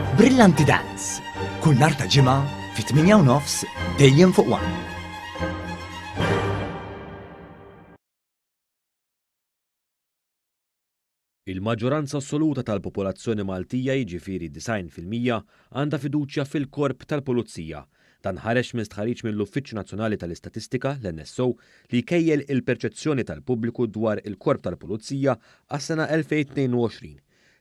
Brillanti Dance, kull nar ta' ġimgħa fit-8 nofs dejjem fuq one. Il-maġġoranza assoluta tal-popolazzjoni Maltija jiġifieri 90 fil-mija għandha fiduċja fil-Korp tal-Pulizija. Dan ħareġ minn stħarriġ mill-Uffiċċju Nazzjonali tal-Istatistika, l-NSO, li jkejjel il-perċezzjoni tal-pubbliku dwar il-Korp tal-Pulizija għas-sena 2022.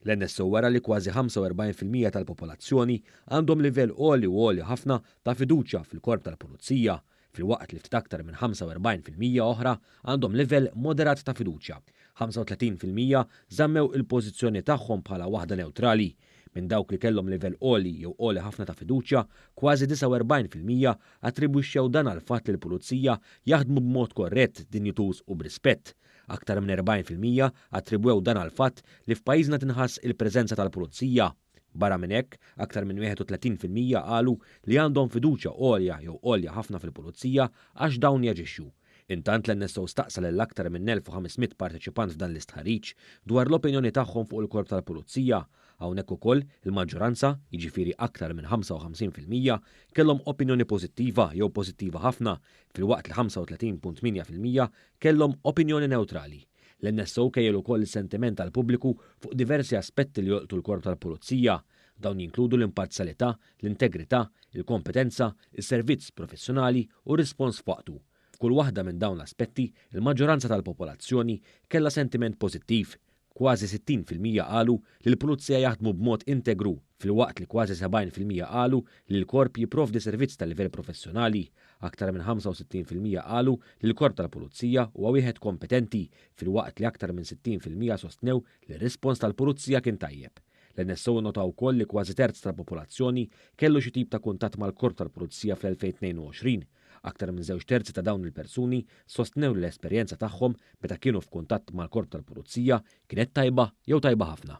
L-NSO wera li kważi 45 fil-mija tal-popolazzjoni għandhom livell għoli u għoli ħafna ta' fiduċja fil-Korp tal-Pulizija, filwaqt li ftit aktar minn 45 fil-mija oħra għandhom livell moderat ta' fiduċja. 35 fil-mija żammew il-pożizzjoni tagħhom bħala waħda newtrali. Minn dawk li kellhom livell għoli jew għoli ħafna ta' fiduċja, kważi 49 fil-mija attribwixxew dan għall-fatt li l-Pulizija jaħdmu b'mod korrett, dinjituż u b'rispett. Aktar minn 40 fil-mija attribwew dan għall-fatt li f'pajjiżna tinħass il-preżenza tal-pulizija. Barra minn hekk, aktar minn 31 fil-mija qalu li għandhom fiduċja għolja jew għolja ħafna fil-pulizija għax dawn jaġixxu. Intant l-NSO staqsa lil aktar minn 1,500 parteċipant f'dan l-istħarriġ dwar l-opinjoni tagħhom fuq il-Korp tal-Pulizija. Hawnhekk ukoll, il-maġġoranza, jiġifieri aktar minn 55 fil-mija, kellhom opinjoni pożittiva jew pożittiva ħafna, filwaqt li 35.8 fil-mija kellhom opinjoni newtrali. L-NSO kejjel ukoll is-sentiment tal-pubbliku fuq diversi aspetti li jolqtu l-Korp tal-Pulizija. Dawn jinkludu l-imparzjalità, l-integrità, il-kompetenza, is-servizz professjonali u r-rispons f'waqtu. F'kull waħda minn dawn l-aspetti, il-maġġoranza tal-popolazzjoni kellha sentiment pożittiv, kważi 60 fil-mija qalu li l-pulizija jaħdmu b'mod integru, filwaqt li kważi 70 fil-mija qalu li l-korp jipprovdi servizz ta' livell professjonali. Aktar minn 65 fil-mija qalu li l-korp tal-pulizija huwa wieħed kompetenti, filwaqt li aktar minn 60 fil-mija sostnew li r-rispons tal-pulizija kien tajjeb. L-NSO nnota wkoll li kważi terz tal-popolazzjoni kellu xi tip ta' kuntatt mal-korp tal-pulizija fl-2022, Aktar minn żewġ terzi ta' dawn il-persuni sostnew li l-esperjenza tagħhom meta kienu f'kuntatt mal-Korp tal-Pulizija kienet tajba jew tajba ħafna.